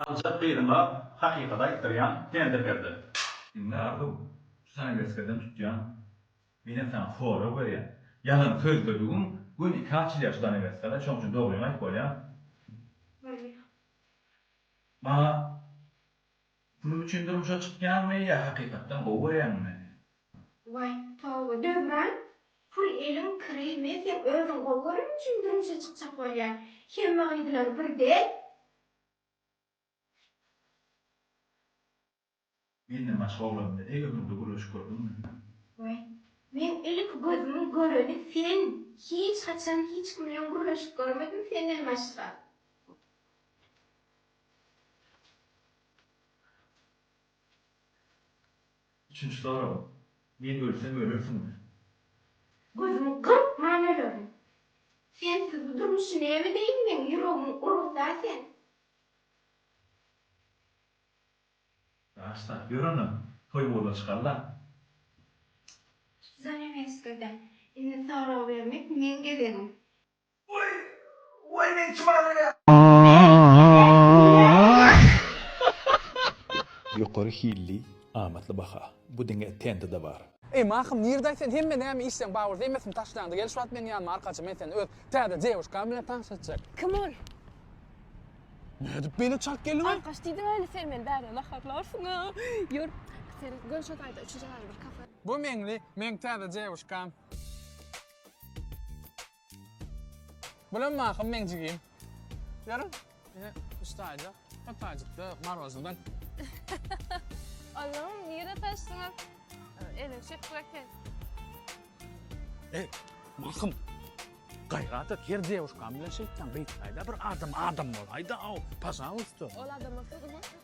Aljak gyzyňa hakykaty aýtdyrýan sendir Berdi. Diňle Arzuw, sany mesgeden tutýan, menem saňa sorag berýän. Ýalan sözledigiň gün iki açylýar şudan emessene, şoň üçin dogryňy aýyp bolýamy? Maňa Pul üçin durmuşa çykýaňmy ýa hakykatdan gowy görýäňmi. Waý toba Döwran pul eliň kiri mi seň özüň gowy gören üçin durmuşa çykjak bolýaň hemme gyzlar bir däl. Menden başga oglan bilen ege günde gürleşip gördüňmi hä. Waý men ilki gözümiň göreni sen hiç haçan hiç kim bilen gürleşip görmedim senden başga. Üçünji sorag, Men ölsem ölersiňmi? Gözüňi gyrpman ölerin. Sensiz bu durmuşy näme deýin meň ýüregim urugda sen. Daşda, ýör onda, toý bola çykalla. Zanamesgada, Indi sorag bermek meň gezegim. Ýokary hilli amatly baha. Bu diňe TNT-de bar. Eý Mahym Nirdaý sen hemme näme işleň Bauer zeýmesini taşlaňda gel şu wagt meniň ýanyma arkaçy men seni öz täze dewuşkaň bilen tanyş etjek. Kim ol? Nädip beýle çalt geldiňä? Arkaç diýdiň ähli sen meni bärde naharlarsyň a ýör sen göni şo taýda üçünji galy bir kafe. Bu Meňli meň täze dewuşkam. Bulam mahym meň jigim. Görüň, ine üstaýjak, hepajykda marozwdan. Allahym, nirde tanyşdyňyz? Elin şekil eken. Eý, mahym, gaýrat et, her dewuşkan bilen şeýtdan gytlaýda, bir adam adam bolaýda-ow, pažalysta. Ol adam bolsa, gymmat.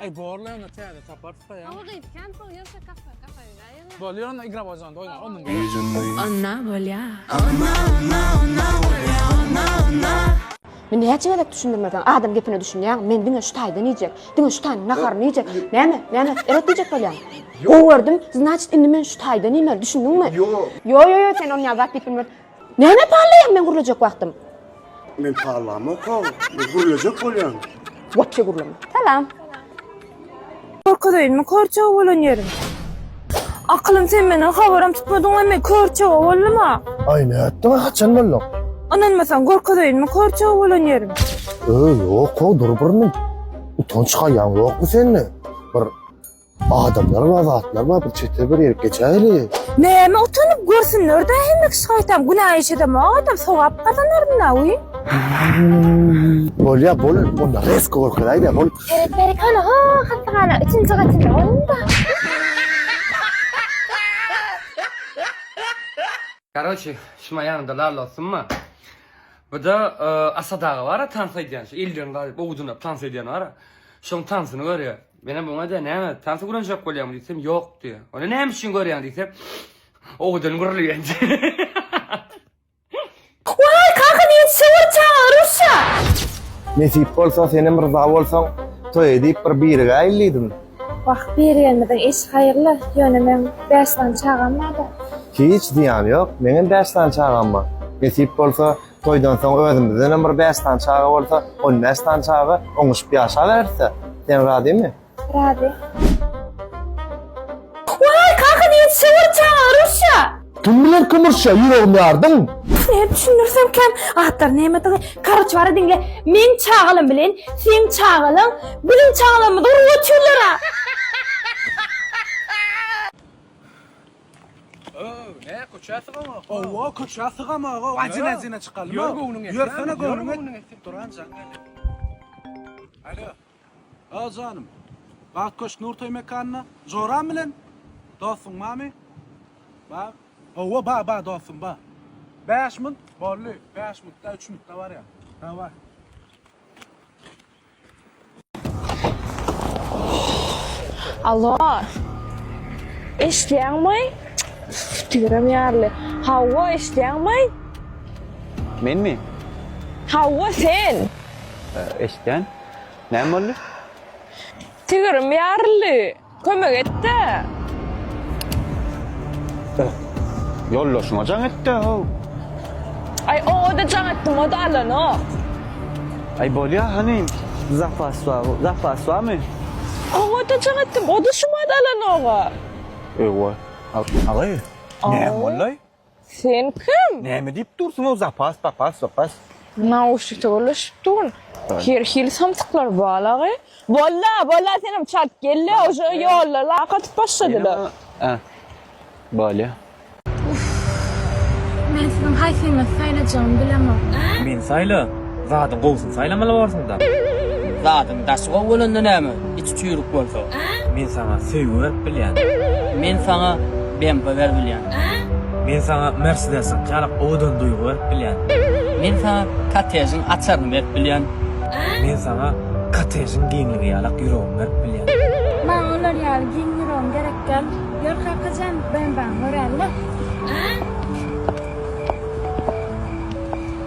Ey borla onda täze taparsa ya. Ama git kan pol yoksa kafa kafa yürüyün. Bol yürüyün igra bozan doyun. Onun gibi. Anna bolya. Anna anna anna bolya anna anna. Men näçe gezek düşündirmeseň adam gepine düşünýäňmi? Men diňe şu taýdan iýjek. Diňe şu taýyň naharyny iýjek. Näme? Näme? Eret diýjek bolýaň. Gowy gördüm. Znaçit indi men şu taýdan iýmeli. Düşündiňmi? Ýo. Ýo ýo ýo sen ony ýa zat diýip bilmez. Näme pallaýaň meň gürlejek wagtym? Men pallamok-a, men gürlejek bolýan. Wapşe gürleme. Salam. Görkezeýinmi kör-çaga bolan ýerin? Akylym sen meni habaram tutmadyňmy men kör-çaga boldum-a? Aý nätdiň-a haçan bolduň? Ynanmasaň görkezeýinmi kör-çaga bolan ýerin? Öý ýok-ow dur bir mün. Utanç haýaň ýokmy sende? Bir. Adamlar bar, zatlar bar, bir çete bir ýerip geçäýeli. Näme utanyp görsünler-dä hemek şaýtam, günä iş edem o adam, sogap gazanaryn-da, uý. Bolýa, bol, onda resko görkeräý-dä, bol. Seret berik hany, ho, hassahana üçünji gatynda bolun-da. Karoçi, şum aýagynda lal osunma. Bu-da Asad aga bar-a tans edýän, şu ellerini gazyp, owudyna tans edýän bar-a. Şoň tansyny görýär. Menem oňa-da näme, tansy gürlenjek bolýaňmy diýsem, ýok diýýär. Onda näme üçin görýäň diýsem, owadan gürleýän diýýär. Waý, kaka niýet şo bir çaga rusça. Nesip bolsa, senem ryza bolsaň, toý edip bir birigäýeli diýdim. Wah, birigenimiziň işi haýyrly, ýöne meň bäş sany çagam bar-da. Hiç zyýany ýok, meňem bäş sany çagam bar. Nesip bolsa, Toýdan soň özümizdenem bir bäş sany çaga bolsa, on bäş sany çaga oňuşyp ýaşabereris-dä. Sen razymy? Razy. Waý, kaka diýip şöwür çaga rusça. Kim biler kim rusça, ýüregim ýardyň. Nädip düşündirsemkäm atlaryň nämedigini. Karoç bara diňle, meň çagalam bilen seň çagalaň biziň çagalarymyzy urup otyrlar-a. Ööö ne köçä sygamak. Owo köçä sygamak o ajyna ajyna çykalym. Ýör göwnüň etsin. Ýörsene göwnüň etsin. Duran jan geldi. Alo. Ha janym. Bagt köşk Nurtoý mekanyna. Joram bilen dostuň barmy? Ba. Owo ba ba dostum ba. 5 minut boldy. 5 minutda 3 minutda barýar. Daway. Alo. Eşitýäňmi? Tüýrem ýaly. Hawa, eşitýäňmi? Menmi? Hawa, sen. Eşitýän. Näme boldy? Tüýrem ýaly. Kömek etde. Yoldaşyňa jaň etde how. Ay oňada jaň etdim oda alanok. Ay bolya hani zapas bar zapas barmy? Oňada jaň etdim oda şumada alanoga. Ewa agay näme bolday? Sen kim? Näme diýip dursuň o zapas papas zapas. Nauşnikde gürleşip durun. Her hili samsyklar balagy. Bolla bolla senem çalt gelle oje ýollar lak atyp başladylar. Hä. Bolýa. Men siziň haýsyňyzy saýlajagymy bilemok. Meni saýla. Zadyň gowusyny saýlamaly borsuňda. Zadyň daşy gowy bolanda näme, içi çüýrük bolsa. Men saňa söýgi berip bilýän. Men saňa BMW berip bilýän. Men saňa Mersedesiň kärak owadan duýgy berip bilýän. Men saňa kottežiň açaryny berip bilýän. Men saňa kottežiň giňligi ýalak ýüregimi berip bilýän. Maňa olar ýaly giň ýüregiň gerek däl. Ýör kakajan, BMW-ňi göräli.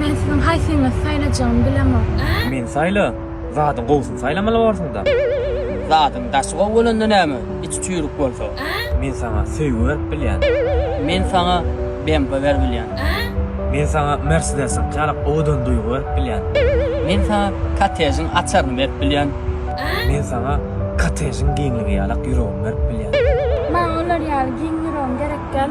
Men siziň haýsyňyzy saýlajagymy bilemok. Meni saýla. Zadyň gowusyny saýlamaly borsuňda. Zadyň daşy gowy bolanda näme, içi çüýrük bolsa. Men saňa söýgi berip bilýän. Men saňa BMW berip bilýän. Men saňa Mersedesiňki ýaly owadan duýgy berip bilýän. Men saňa kottežiň açaryny berip bilýän. Men saňa kottežiň giňligi ýalak ýüregimi berip bilýän. Maňa olar ýaly giň ýüregiň gerek däl.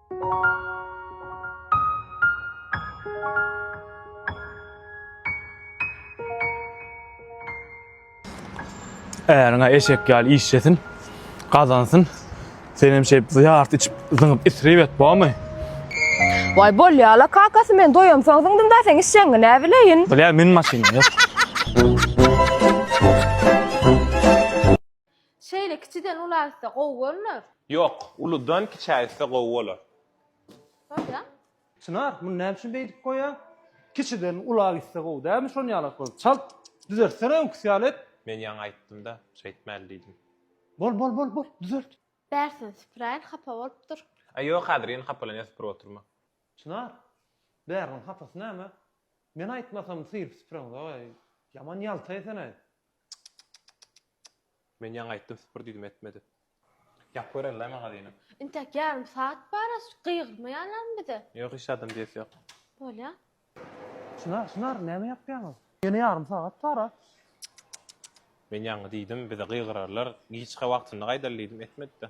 Äriňe eşek ýaly işlesin, gazansyn. Sen hem şeýip ýart içip, zyňyp isrip et, bormy? Waý bolýala kakasy men doýamsoň zyňdym da seň işjeňňi nä bileýin. Bilýän men maşyna. Şeýle kiçiden ula gitse gowy bolmaz. Ýok, uludan kiçä gitse gowy bolar. Bolýa. Çynar, muny näme üçin beýdip goýýaň? Kiçiden ula gitse gowy dälmi şony ýalak bolup? Çalt düzeltsene öňküsi ýaly et. Men ýaňy aýtdym-da, şeýtmäli diýdim. Bol, bol, bol, bol, düzelt. Bärsini süpüräýin, hapa bolup dur. Aý, ýok, häzir ýene hapalanýar, süpürip oturma. Çynar, bäriniň hapasy näme? Men aýtmasam syryp süpüreňzok-aý. Ýaman ýalta ýesene. Men ýaňy aýtdym süpür diýdim etmedi. Ýap görellaý magazyny. Intäk ýarym saat baras gygyrmaýarlarmy bize. Ýok hiç zadam diýesi ýok. Bolýa. Çynar çynar näme ýapýaňyz. Ýene ýarym sagat bara. Men ýaňy diýdim bize gygyrarlar giçka wagtynda gaýdaly diýdim etmedide.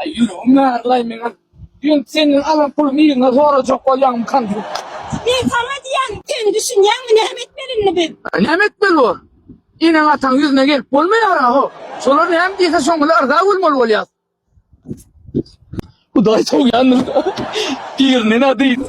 Aý ýüregim ýarylaý meňem. Diýen senden alan pulumy yzyna zorajak bolýaňmykam diýip. Men saňa diýýän, sen düşünýäňmi näme etmeli indi biz? Näme etmeli bor? Eneň ataň ýüzüne gelip bolmaýara ho. Şolar näme diýse şoňa-la yrza bolmaly bolýas. Hudaý sowýandyr. Birinden-ä dyn.